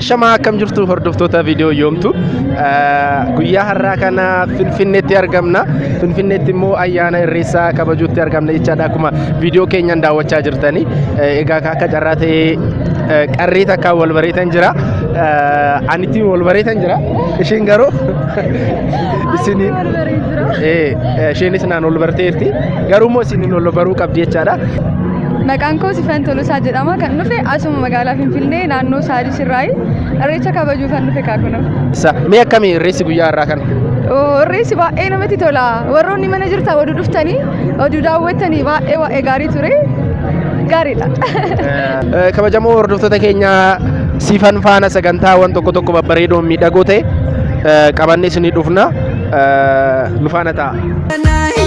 Ashamaa akkam jirtu hordoftoota viidiyoo yoomtu guyyaa har'aa kana Finfinneetti argamna. Finfinneetti immoo ayyaana irreessaa kabajuutti argamna jechaadha akkuma viidiyoo keenyaan daawwachaa jirtani. Egaa akka carraa ta'ee qarree takkaan wal bareetan jira. Anittiin wal bareetan jira. Isheen garuu isin isheenis naan wal barteerti. Garuu immoo isin wal baruu qabdi jechaadha. Maqaan koo Sifen Tolosaa jedhama. Kan dhufe asuma magaalaa Finfinnee naannoo Saalis irraayi. Irreecha kabajuu kan dhufe kaakunoo. Sa- Mee akkami irreessi guyyaa har'aa kana? Irreessi baay'ee namatti tola. Warroonni mana jirtan oduu dhuftanii oduu daawwattanii baay'ee baay'ee gaarii ture. Gaariidha. Eh, Kabajamoo hordoftoota keenya siifan faana sagantaawwan tokko tokko babbareedoon miidhagoo ta'e eh, qabannee isinii dhufna. Eh, Nu faana ta'a. Nine.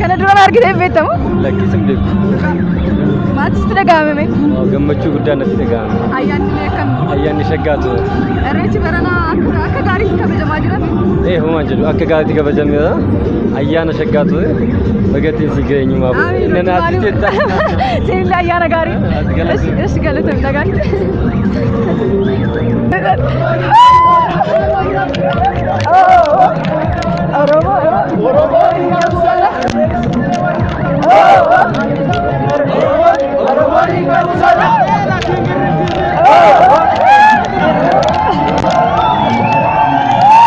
Kana dura na argitee hin beektamu? Lakkisin beeku. Maaltu sitti dhaga'ame? Gammachuu guddaa natti dhaga'ame. Ayyaanni illee akkam? Ayyaanni shaggaa ture. Irreechi baranaa akka akka gaariitti kabajamaa jira. Ee homaa jedhu akka gaariitti kabajameera. Ayyaana shaggaa ture. Bagattiin si geenyumaa bu'e. Nana ati jetta. Siinillee ayyaana gaarii. Ati galatoomi. Ishi galatoomi dhagaatti.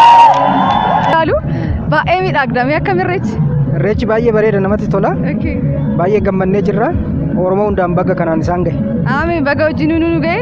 Ilaalu baay'ee miidhagdamee akka mirreechi. Irreechi baay'ee bareeda namatti tola. Baay'ee gammannee jirra. Oromoo hundaan baga kanaan isaan gahe. Aami baga wajjin nu ga'e.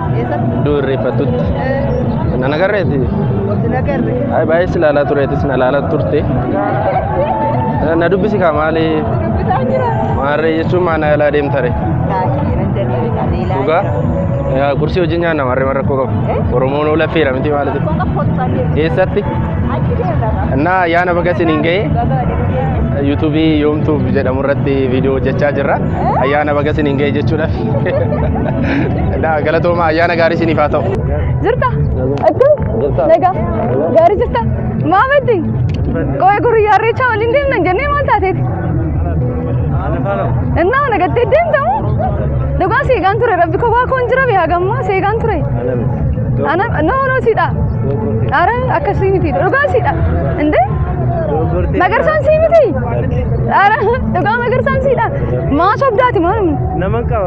Eessatti? Iddoo irreeffattutti. Eh, Na nagarreeti. Wasi nagarre. Ay baay'ee si ilaalaa tureetis na ilaalaa turte. Eh, Na dubbisi kaa maali? Dubbisaa jira. Maarree jechuun maa na yaalaa deemtare. Taakii nan danda'e qabeelaa Dhugaa? jira. Eh, Qursii wajjin nyaanna maarree maal rakkoo qabu. Eh? Oromoon oola feera miti maalitu. Kun qophoottaa deema. Eessatti? Achi deemna qaba. Innaa ayyaana baga isin hin ga'e. Baga waliin deemna. yuutuubii yoomtuuf jedhamu irratti viidiyoo hojjechaa jirra. Ayyaana baga isin hin ga'e jechuudhaaf. Galatooma ayyaana gaarii isiniif haa ta'u. Jirta? Akkam? Nagaa? Gaarii jirta? Maa maddi? Qo'ee gurriyyaa irreechaa waliin deemna hin jennee maal taateeti? Innaa nagattee deemtamu? Dhugaa seegaan ture rabbi kophaa koon jira bee hagammaa seegaan ture. Ana noo noo siidha. Ara akkasii miti dhugaa siidha. Indee? Magarsaan sii miti? Ara dhugaa magarsaan siidha. Maa sobdaati maalum? Naman qaba.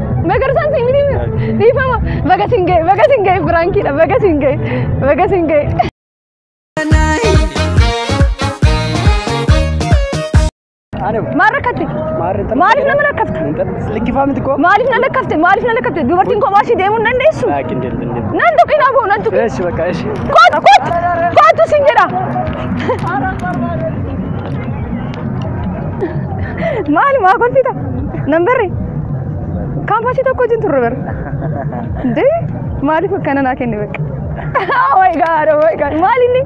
Magarsaan siin miti dhiifama baga siin ga'e baga siin ga'e biraankiidha baga siin ga'e baga siin ga'e. Maal rakkatti? Maaliif nama rakkafta? Maaliif na lakkafte? Maaliif na lakkafte? Dubartiin kophaa ishee deemuu hin dandeessu? Nan tuqina boo nan tuqina. Eeshi bakka eeshi. Kootu kootu kootu siin jedha. Maali maa kolfita? Nan barre. Kaampaasii tokko wajjin turre bara. Dee maaliif akkana naa kenne bakka. Oh my god, oh my god. Maal inni?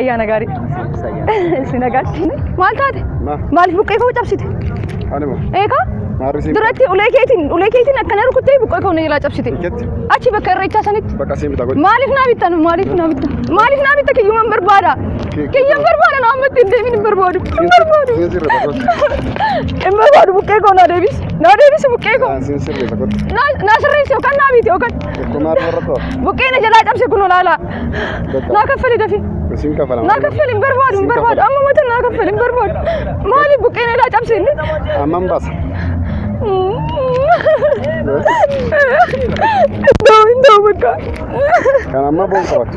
Ayyaana gaarii. Si nagaatti. Maal taate? Ma. Maaliif buqqee koo cabsite? Anuma. Eegaa? Maarrisiin. Duratti ulee keetiin ulee keetiin akkana rukuttee buqqee koo na jalaa cabsite. Iketti. Achi bakka irreechaa sanitti. Bakka siin bitaa godhi. Maaliif naa bittan? Maaliif naa bittan? Maaliif naa bitta kiyyuman barbaada? Kiyyan barbaada na ammatti hin deemin hin barbaadu. Hin barbaadu. Hin barbaadu buqqee koo naa deebisi. Naa deebisi buqqee koo. Naa naa sirreessi yookaan naa miiti yookaan. Buqqee na jalaa cabse kunoo laalaa. Naa kaffali dafi. Naa kaffali hin barbaadu hin barbaadu. Amma mata naa kaffali hin barbaadu. Maali buqqee na jalaa cabse inni? Amman baasa. Iddoo hin ta'u bakka. Kan amma boon qabatu.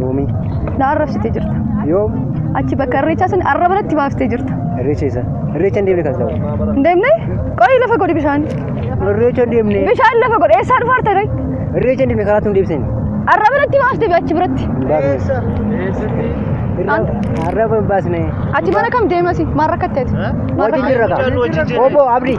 Yoomii. Na arrabsite jirta. Yoom. Achi bakka irreechaa sana arraba natti baaftee jirta. Irreecha isa. Irreecha hin deemne kan ta'u. Hin deemne? Qorii lafa godhi bishaan. Irreecha hin deemne. Bishaan lafa godhi. Eessaa dhufa harta kai? Irreecha hin deemne karaatti hin deebiseen. Arraba natti baaftee bi achi biratti. Hin baasne. Arraba hin baasne. Ati mana kam deemasi? Maal rakkatteeti? Maal Hojii jirra rakkatteeti? kaa. Obbo Abdii.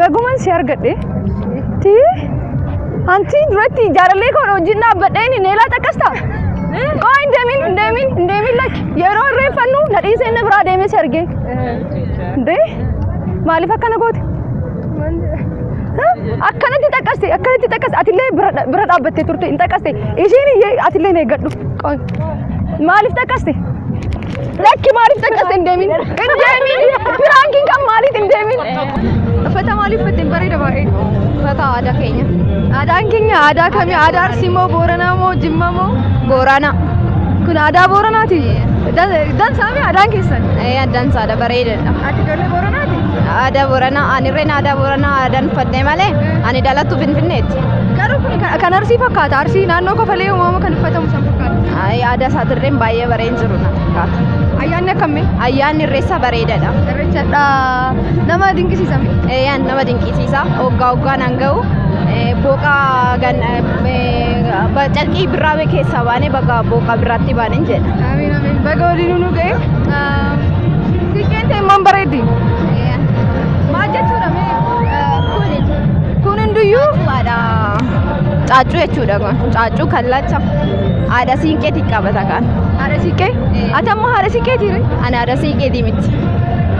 Bagumaan si argadhe. Ti. Anti duratti jaalallee koo wajjin dhaabbadhee ni neelaa xaqqasta. Qoo hin deemin hin deemin hin deemin lakki yeroo irreeffannu nadhiisee inni biraa deemee si argee. Dee maaliif akkana goote? akkanatti xaqaste akkanatti xaqaste atillee bira bira dhaabbattee turte hin xaqaste ishiin iyyee atillee hin eeggadhu qoy maaliif xaqaste lakki maaliif xaqaste hin deemin hin deemin piraankiin kan maaliif hin deemin uffata maaliif uffatte hin bareeda baay'ee uffata aadaa keenya aadaan keenya aadaa kami aadaa arsii moo booranaa moo jimma moo booranaa kun aadaa booranaati dansaami aadaan keessan addaan saada bareedadha Ati ijoollee Booranaati? Aadaa Booranaa, ani irreen aadaa Booranaa aadaan uffatte malee ani dhalattu Finfinneetti. Garuu kun kan- kan Arsii fakkaata. Arsii naannoo kofalee uumama kan uffatamu san fakkaata. Ay, Aadaa isaatirreen baay'ee bareen jiru na fakkaata. Ayyaanni akkamii? Ayyaanni irreessa bareedadha. Irreechadha. Nama dinqisiisa miti. Eeyyaan nama dinqisiisa. Hoggaa hoggaan an ga'u eh, booqa gan eh, ba- calqii birraa keessaa baanee bakka booqa birraatti baaneen jedha. Amiin amiin. Baga waliin nu ga'e. Sikkeen teemmoon bareeddi. Maal jechuudha mee? Kun hunduyyuu waadha. Caaccuu jechuudha kun. Caaccuu kallacha. Haadha siinqeetiin qabata kan. Haadha siiqqee? Ati ammoo haadha siiqqeetii? Ani haadha siiqqeetii miti.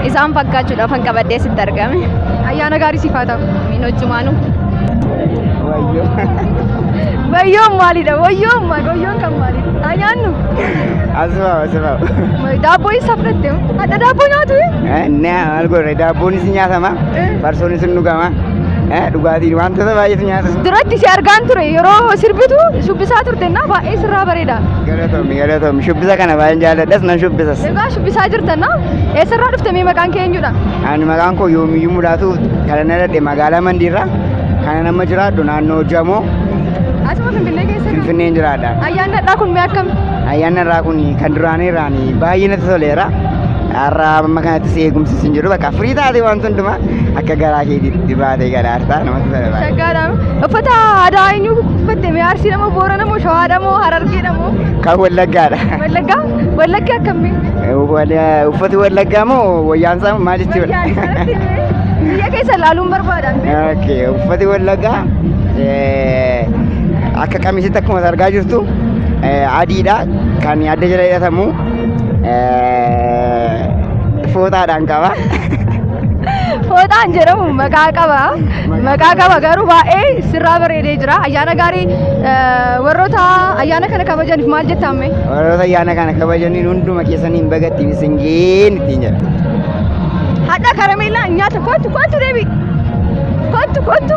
Isaan fakkaachuudhaaf kan qabadhee sitti argame. Ayyaana gaarii siif haa ta'u. Min hojjumaanuu. Wayyoon maalidha? Wayyoon maal? Wayyoon kan maalidha? Ayyaannu. Asuma asuma. Daabboo eessaa fudhatte? Hadha daabboo nyaatu? Naa maal godhe daabboonis ni nyaatama farsoonis ni dhugama dhugaatii wantoota baay'eetu nyaatama. Duratti si argaan ture yeroo sirbitu shubbisaa turte na baay'ee sirraa bareeda. Galatoomi galatoomi shubbisa kana baay'een jaalladhas nan shubbisas. Egaa shubbisaa jirta na eessarraa dhufte mee maqaan kee eenyudha? Ani maqaan koo yoomiyyuu mul'atu kana na dhadhe magaalaa Mandiirraa kana nama jiraadhu naannoo Jamoo Asuma Finfinnee keessa Finfinneen jiraadha. Ayyaanni har'aa kun mee akkam? Ayyaanni har'aa kun kan duraanii irraan baay'ee natti toleera. Har'a amma kanattis eegumsi isin jiru bakka firii taate waan hundumaa akka garaa keetiitti baatee gara har'aa namatti tola baay'ee. Shaggaadha. Uffata aadaa eenyu uffatte mee Arsiidha moo Boorana moo Shawaadha moo Harargeedha moo Kan wallaggaadha. Wallaggaa? Wallaggi akkamii? Wala- Uffati wallaggaa moo wayyaan isaa maal jechuudha? Biyya keessa ilaaluun barbaadaan. Okay, uffati wallaggaa Akka qamisitti akkuma argaa jirtu adiidha kan adda jala hidhatamu fooxaadhaan qaba. Fooxaan jedhamu maqaa qaba. Maqaa qaba garuu baay'ee sirraa bareedee jira. Ayyaana gaarii warroota ayyaana kana kabajaniif maal jettaan mee? Warroota ayyaana kana kabajaniin hunduma keessaniin bagattiin isin geenye ittiin jedha. Hadha karameellaa nyaata kottu kottu deebi. Kottu kottu.